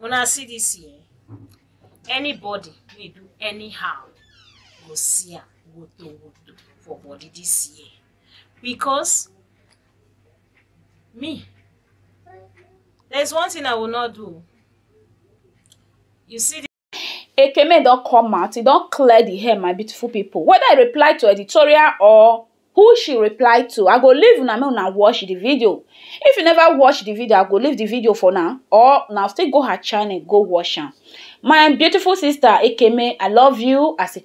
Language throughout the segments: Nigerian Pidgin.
Una see this here. Anybody wey do anyhow go see am woto woto for body this year because me there's one thing I will not do. You see Ekeme don come out, e don clear di air my beautiful pipu, weda e reply to editorial or who she reply to, I go leave una make una watch di video, if you neva watch di video, I go leave di video for una or una still go her channel go watch am. My beautiful sister Ekeme, I love you as a.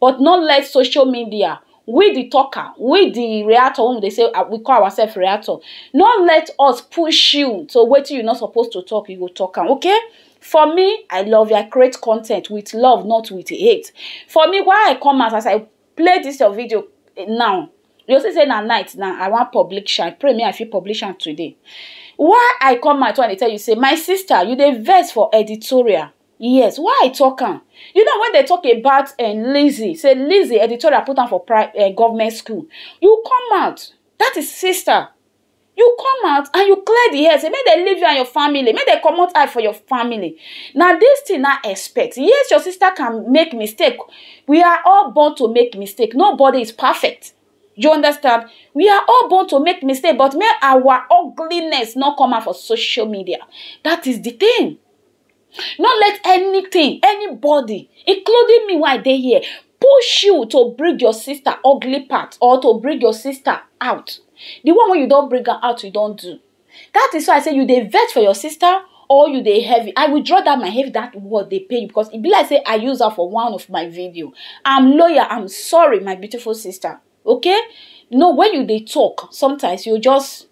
but no let social media we the talker we the reactor wey we dey say ah, we call ourselves reactor no let us push you to wetin you no suppose to talk you go talk am okay for me i love you i create content with love not with hate for me why i come out as i play this your video eh, now you see say na night now i wan publish am pray me i fit publish am today why i come out and dey tell you say my sister you dey vex for editorial Yes why I talk am you know when dem talk about um Lizzy say Lizzy editorial put am for pri um government school you come out that is sister you come out and you clear the air say make dem leave you and your family make dem comot eye for your family na this thing na expect yes your sister can make mistake we are all born to make mistake nobody is perfect you understand we are all born to make mistake but make our ugliness no come out for social media that is the thing no let anything anybody including me wey i dey here push you to bring your sister ugly part or to bring your sister out the one wey you don bring am out you don do that is why i say you dey vex for your sister or you dey heavy i will draw that my heavy that word dey pain you because e be like say i use am for one of my video i'm loyal i'm sorry my beautiful sister okay no when you dey talk sometimes you just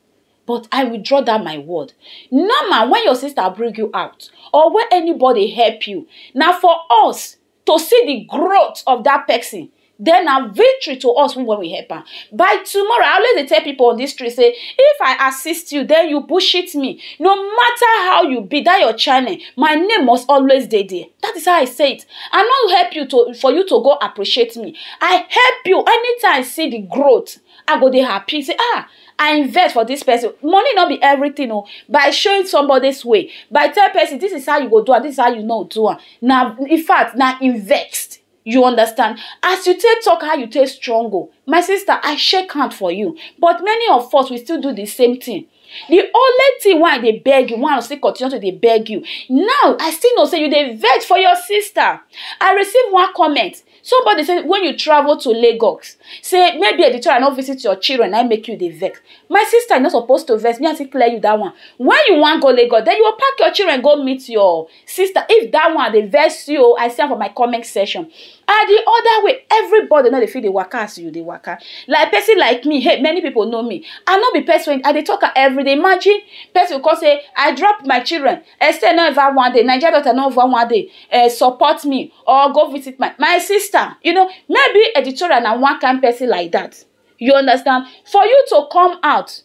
but I withdraw that my word. Normal, when your sister bring you out or when anybody help you, now for us to see the growth of that person, then a victory to us when we help am by tomorrow i always dey tell people on this street say if i assist you then you bullshit me no matter how you be that your channel my name must always dey there that is how i say it i no help you to for you to go appreciate me i help you anytime i see the growth I go dey happy say ah I invest for this person money no be everything o oh. by showing somebody's way by tell person this is how you go do am this is how you no do am na in fact na invest you understand as you take talk how you take strong o oh. my sister I shake hand for you but many of us we still do the same thing the only thing wey I dey beg you wey I still continue to dey beg you now I still know say you dey vex for your sister I receive one comment Somebody say when you travel to Lagos, say maybe at the time I no visit your children, I make you the vex. My sister, you're not supposed to vex. Me, I still clear you that one. When you want go Lagos, then you will pack your children go meet your sister. If that one they vex you, I see for my comment section. And the other way, everybody know they feel the waka as you the waka. Like person like me, hey, many people know me. I not be person. I they talk every day. Imagine person will say, I drop my children. I say no ever one day. Nigeria daughter no ever one day. Uh, support me. or go visit my my sister you know maybe editorial na one kind person like that you understand for you to come out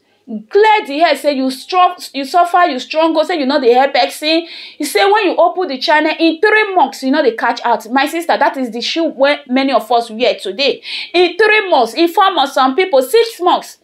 clear the head say you strong you suffer you strong go say you no dey help person you say when you open the channel in three months you no dey catch out my sister that is the shoe wey many of us wear today in three months in four months some people six months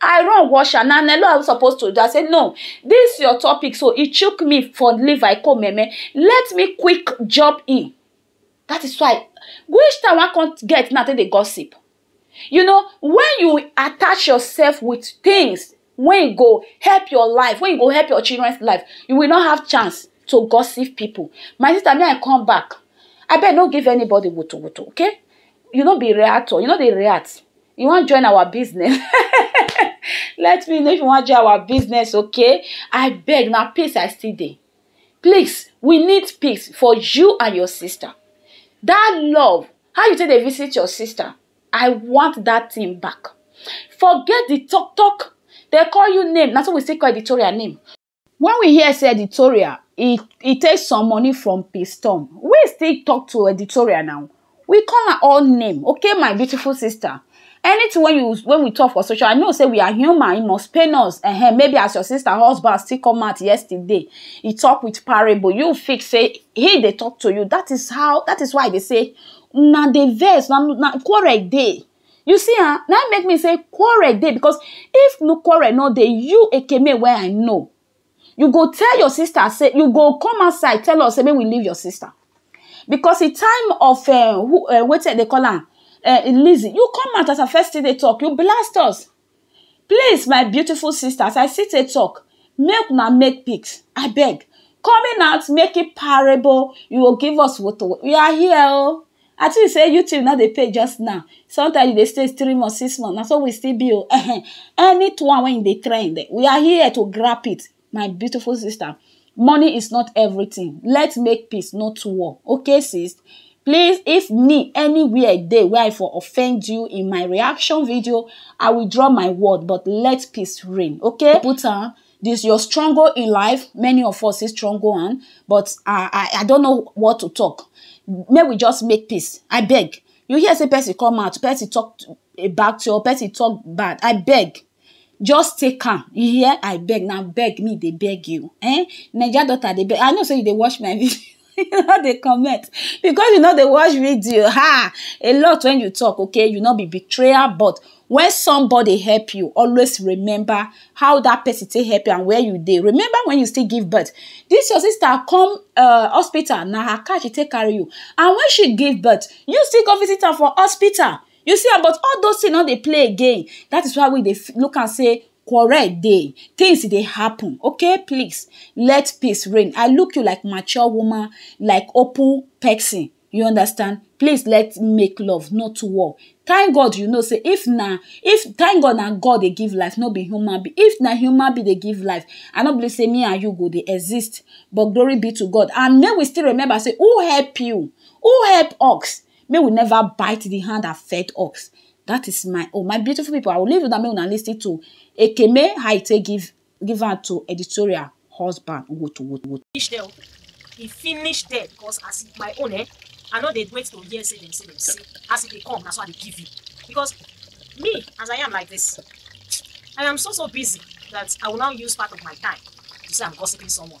I run wash am. Na Nelo I supposed to do. I say, no, this your topic. So he took me for leave. I come, meme. Let me quick jump in. That is why. Which time I can't get now they gossip. You know, when you attach yourself with things, when you go help your life, when you go help your children's life, you will not have chance to gossip people. My sister, may I come back? I bet not give anybody wutu wutu, okay? You not be reactor, you know they react. you wan join our business let me know if you wan join our business okay abeg na peace I still dey please we need peace for you and your sister that love how you take dey visit your sister I want that thing back forget the talk talk they call you name na so we still call Victoria name Wen we hear sey editorial e e take some money from pistom we still talk to editorial now we call am all name okay my beautiful sister anything wey you wey we talk for social I know sey we are human e must pain us um maybe as your sister husband still come out yesterday e talk with parable you fit sey him dey talk to you dat is how dat is why I dey sey una dey vex una quarrel dey You see am, na im make me say quarrel dey because if no quarrel no dey, you Ekeme wey I know, you go tell your sister say, you go come outside tell us say make we leave your sister because the time of um wetin dem dey call am um Lizzy, you come out as I first still dey talk, you blast us. Please my beautiful sisters I still dey talk make una make peace abeg coming out making parable you go give us woto woto we are here oh I think say you tube no dey pay just now sometimes you dey stay three months six months na so we still be oh ehen anyone wey e dey trend we are here to grab it my beautiful sister money is not everything let's make peace not war okay sis please if me anywhere day where i for offend you in my reaction video i will draw my word but let peace reign okay put on this your struggle in life many of us is struggle on but I, I i don't know what to talk may we just make peace i beg you hear say person come out person talk about your person talk bad i beg just take am you hear i beg na beg me dey beg you eh naija daughter dey beg i know say you dey watch my video you no dey comment because you no dey watch video ha a lot when you talk okay you no be betrayer but when somebody help you always remember how that person take help you and where you dey remember when you still give birth this your sister come uh, hospital na her car she take carry you and when she give birth you still go visit am for hospital You see am but all those things no dey play again that is why we dey look am sey quarrel dey things dey happen okay please let peace reign I look you like mature woman like open person you understand please let make love not war thank God you know sey if na if thank God na God dey give life no be human being if na human being dey give life I no believe sey me and you go dey exist but glory be to God and make we still remember sey who help you who help us May we never bite the hand that fed us. That is my own. My beautiful people, I will leave you that may una listen to Ekeme how e take give give am to editorial husband. Woot woot woot. finish there o e finish there because as e my own eh i no dey wait to hear say dem say dem say as e dey come na so i dey give you because me as i am like this i am so so busy that i will now use part of my time to say i'm gossiping someone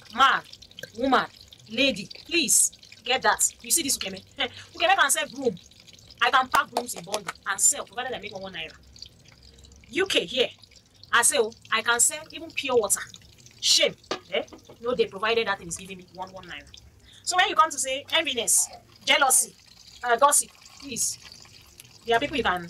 man woman lady please get that you see this ukeme ukeme can sell broom i can pack brooms in bundle and sell provided i make one one naira uk here i say oh i can sell even pure water shame eh no dey provided that thing is giving me one one naira so when you come to say enviness jealousy uh, gossip please there are people you can